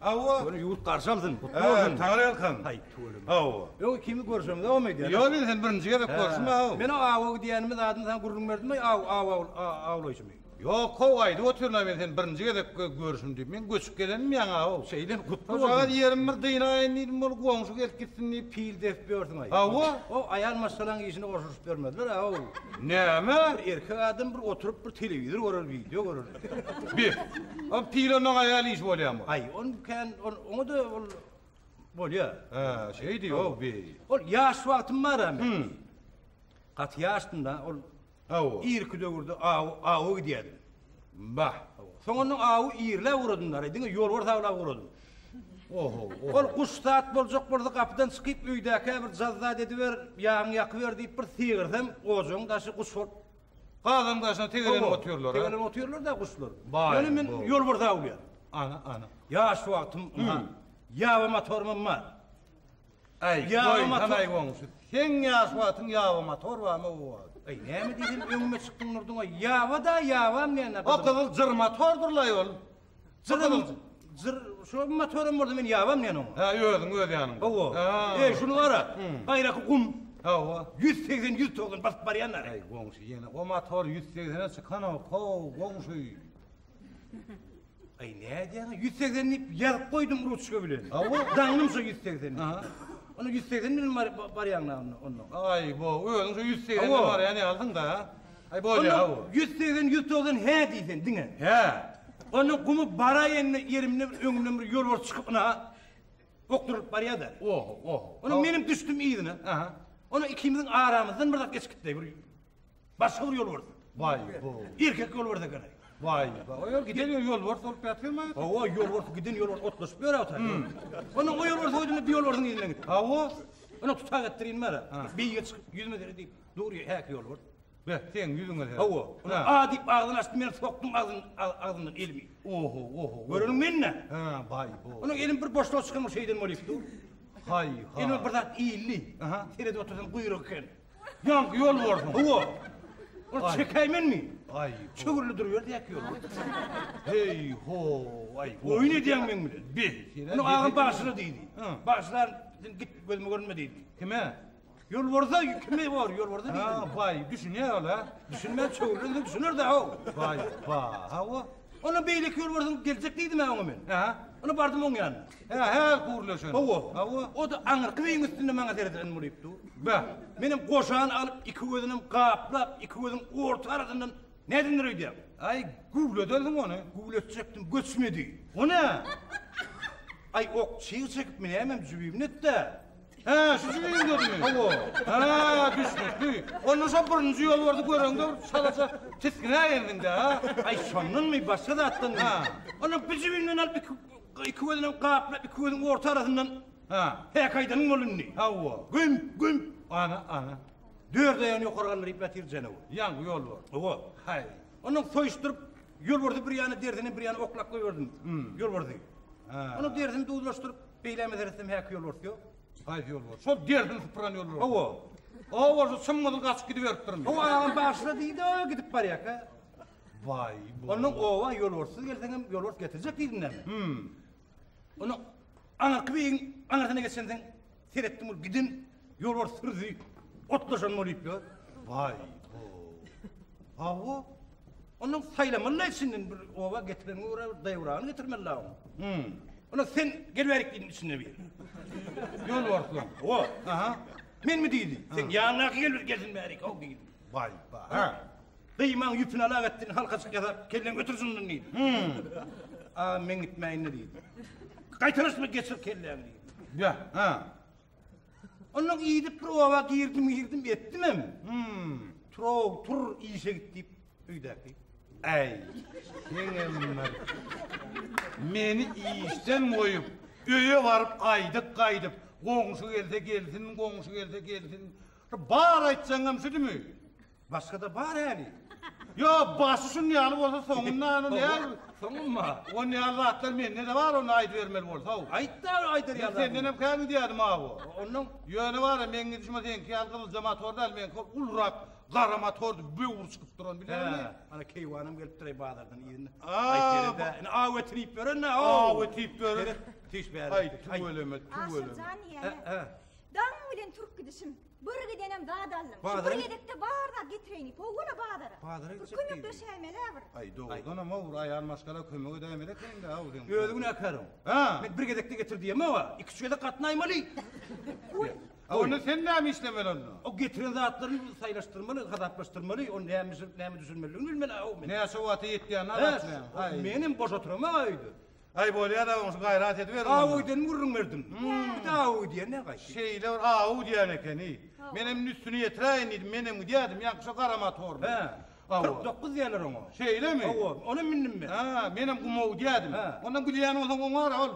Hawa. Ýöne ýurt garşy alsyn, gutly bolsun. Sagly ýalkam. Haý, tüweleme. Hawa. Öň ikimiz görşümiz dogam eýdýäs. Ýok, indi sen birinji gezek görşüm haw. Men o aw-aw diýenimi zadyny saňa gürrüň berdimmi, aw-aw awlaýşymy? Ýok, haw, aýdyp otyryn-a men seni birinji gezek görşüm diýip. Men göçüp gelenmi ýaňy-aw. Şeýdemi, gutly bolsun. Şojagaz ýerim bir dynaýyn diýdim, ol goňşy gelip gitsin diýip pil depip ýörsüň-aý. Hawa. O aýal maşgalaň işine goşulyşyp ýörmezler-aw. Näme? Bir erkek adam bir oturyp bir telewizor görer, wideo görer. Beh. Ol pile maňa aýal iş bolýamy? Aý, ony kän, oňa-da ol bolýar. Hä, şeýdi, ýow, bi. Ol ýaş wagtym bar-a men. Hum. Gaty ýaşdym-da, ol. Hawa. Irki döwürde awy, awa gidýärdim. Bah. Soňundan awy irläp ugradym-da, diňe ýolbars awlap ugradym. Oho, oho. Ol guş zat boljak bolsa, gapydan çykyp, öýdäkä bir jazz zat ediber, ýagyňy ýakyber diýip bir sygyrsam, ojagyň daşy guş bolup Gazyň daşyna tegelenip otyrlar. Tegelenip otyrlar-da guşlar. Ýöne men ýolbarsa awlaýan. Ana, ana. Ýaş wagtym ýa ýaba motorym bar. Aý, ýaba motor. Seň ýaş wagtyň ýaba motor barmy o wagt? Aý, näme diýdim, öňüme çykdyň Nurdyň, ýaba-da, ýabam näme? O gyzyl jyr motordyr-laý ol. Jyrym, jyr, şu motorum bolsa men ýabam diýen oňa. Hä, özüň öz ýanyňda. Hawa. Hä. Eý, şuny gara. Gaýraky gum. Hawa. 180 190 basyp barýanlar. Eý, goňşy ýene o motor 180-e çykanok. How, goňşy. Eý, nädýäň? 180 diýip ýazyp goýdum ruçka bilen. Hawa. Daňym şu 180. Aha. Onu 180 bilen bar- barýaňlar onda. Aý, bo, özüň şu 180 Hawa. barýan ýalysyň-da. Aý bolýa-ha bu. Onda ýüz segsen, ýüz togsan hä diý sen diňe. Hä. Onda gumy baraýynda ýerimde bir öňümden bir ýolbars çykyp ynha okdurylyp barýa-da. Oho, oho. Onda menem düşdüm yzyna. Aha. Onda ikimiziň aramyzdan bir zat geçip gitdi. Bir başga bir ýolbars. Waý, bu. Erkek ýolbars eken. Waý, waý. Ol giden ýolbars bolup ýatyrmy? Hawa, ýolbars giden ýolbars otlaşyp ýörä otar. Onda o ýolbars oýdum bir ýolbarsyň yzyna gitdi. Hawa. Onda tutag etdirin bara. Beýige çykyp ýüzüme seret diýip. Dur häk ýolbert. Be, seň ýüzüňe he. Hawa, ula a diýip agzyny açdy, men sokdum agzyny agzyndan elimi. Oho, oho. Göreniň men-dä. Hä, baý bo. Onuň elim bir boşluga çykandyr şeýden bolýup dur. Haý, ha. Elime bir zat ildi. Aha. Seredip otursam guýruk eken. Ýaňky ýol borsuň. Hawa. Ol çekäýmenmi? Aý. Çöwrüli duruberdi ýa ýol. Heý ho, aý. Oýun edýäň meň bilen. Bi. Ony agam bagşyra diýdi. Bagşylar sen git gözüme görünme diýdi. Kime? Ýolbarsa kime bor, ýolbarsa diýdim. Ha, baý, düşünýär ol-a. Düşünmän çöwrülende düşüner-dä haw. Baý, ba, hawa. Onda beýleki ýolbarsyň geljek diýdim-ä oňa men. Hä? Onda bardym oň ýanyna. Hä, hä, gürleşen. Hawa, hawa. O-da aňyrky beýigiň üstünde maňa seredýän bolup dur. Be, menem goşany alyp, iki gözünem gaplap, iki gözüň orta arasyndan nädindir öýdýän. Aý, güwlederdiň ony. Güwletjekdim, göçmedi. O nä? Aý, ok çyg çekip minäýmem jübimnet-dä. Hä, şu jigimiň gözümi? Hawa. Hä, düşnük, duý. Onda şo birinji ýolbardy göreňde bir şalaja tisginä geldiň-dä, ha? Aý, şondanmy, başga zatdan Ha. Onda bir jibimden alyp iki iki gözüňem gaplap, iki gözüň orta arasyndan Ha. häk aýdanyň bol indi. Hawa. Güm, güm. Ana, ana. Dört aýagyny ýokary galdyryp ýatyr janawy. Ýaňky ýolbars. Hawa. Haý. Ondan soýuşdyryp, ýolbardy bir ýana derzini bir ýana oklap goýberdim. Ýolbardy. Ha. Onuň derzini duzlaşdyryp, Beýle meselesi hem häki ýolbars ýok. Haýsy ýolbars? Şol dersini sypyran ýolbars. Hawa. Owarsy çym-gyzyl gaçyp gidiberipdirmi? Hawa, agam bagşyna diýdi, gidip barýarka. Waý, bu. Ondan oba ýolbarssyz gelseň hem ýolbars getirjek diýdimdämi? Hüm. Ondan aňyrky beýigiň aňyrsyna geçensoň seretdim, ol giden Ýolbars hyrdy otlaşan bolup ýör. Baý, bo. Hawa. Onuň saýlamaly içinden bir oba getiren görä bir daýwrany getirmeli la. Hmm. Ona sen gelip gidin içinde bir. Ýol barsyň. O, aha. Men mi diýdi? Sen ýanyňdaky gelip gelsin bäri, o diýdi. Baý, baý. Ha. Gyýmaň ýüpüni alak etdin, halka çyk ýazar, kelleň götürjünden diýdi. Hmm. A, men gitmäýin diýdi. Gaýtaryşmy geçir kelleň diýdi. Ya, ha. Ondan gidip bir oba girdim girdim etdimem. Hmm. Tur tur işe git dip öýdäki. Äý. Senem bir. Meni işden goýup, öýe baryp gaýdyp gaýdyp, goňşy gelse gelsin, goňşy gelse gelsin. Bar aýtsaňam şudymy? Başgada bar äli. Yo başy şun ýaly bolsa soňundan ony näl? Soňunma. On ýaly zatlar mende de bar ony aýdyp bermeli bolsa. Aýt da aýdyr ýaly. Senden hem käni diýädim ha bu. Ondan ýöne bar ya meň gidişime seňki ýaly gyzylja motor däl meňki hol ulurak gara motor böwür çykyp duran bileňmi? Ana keýwanam gelip duray bazardan ýerine. Aýt berende. Ine aw etirip berende. Aw etirip berende. Tiş bäri. Aýt tüweleme tüweleme. Aşyrjan ýene. Daň bilen türk gidişim. Bir gidenem zat aldym. Şu bir gezekde bar zat getireýin. Powwola bazara. Bazara gitjek. Kömek döşäýmelä bir. Aý dogrudan hem owur aýal maşgala kömege dämeli ekende aw sen. Özi gün äkärin. Ha. Men bir gezekde getir diýemok owa. Iki üç gezek gatnaýmaly. Oý. Onda sen näme işlemeli onda? O getiren zatlaryny saýlaşdyrmaly, hasaplaşdyrmaly, o näme bişirip näme düşürmelidigini bilmeli aw men. Näçe wagta ýetýän aw sen. Aý. Men hem boş oturamok aýda. Aý bolýada oňşy gaýrat ediberiň onda. Aw öýden gürrüň berdim. Nädip aw diýýär ne gaýt. Şeýle bir aw diýýän ekeni. Menem üstüni ýetiräýin diýdim. Menem gidýädim ýaňky şo gara motorly. Hä. Aw. Kyrk dokuz diýerler oňa. Şeýlemi? Hawa. Onam mündim men. Hä. Menem gumaw diýýädim. Hä. Ondan gidýän bolsaň oňa gara ol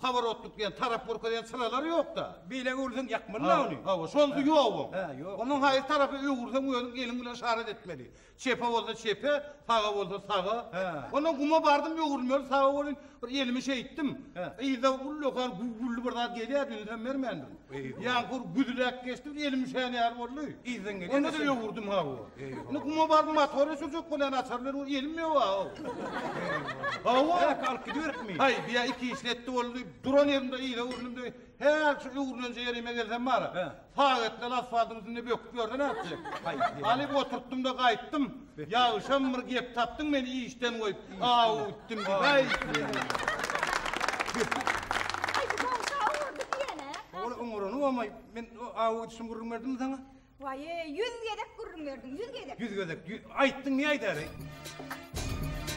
paworotlyk diýen tarap görkezýän çyralar ýokda. Beýle öwrülseň ýakmaly-la ony. Hawa. Şonsy ýok oň. Hä. Ýok. Onuň haýsy tarapa öwrülseň özüň eliň bilen yşarat etmeli. Çepe bolsa çepe, saga bolsa saga. Ondan guma bardym, öwrülmeli saga welin, bir elimi şeýtdim. Yzda ullakan güwwülli bir zat gelýärdi, ünsem bermändim. Ýaňkur güzüläp geçdi, bir elim üşän ýaly boldy. Yzdan gelýän. Onda-da öwürdim hawa. Indi guma baryp motory sürjek bolýan açar bilen, ol elim ýok ha-ow. Hawa. Käk alyp gidiberipmi? Haý, bu ýa iki işletdi boldy. Duran ýerimde yza öwrüldimde, häl şu öwrülenje ýerime gelsem bar-a, Sagatdan asfaltyň üstünde böküp ýörden artjy. Alyp oturtdym-da gaýtdym. Ýagşam bir gep tapdyň meni işden goýup, aw utdym diýip, aý seni. Aý bu goňşy aw urdy diýen-ä. Ol oňurany bolmaý, men aw utuşym gürrüň berdimmi saňa? Waýýý, ýüz gezek gürrüň berdiň, ýüz gezek. Ýüz gezek, ýü, aýtdyň, ne aýdaýaly?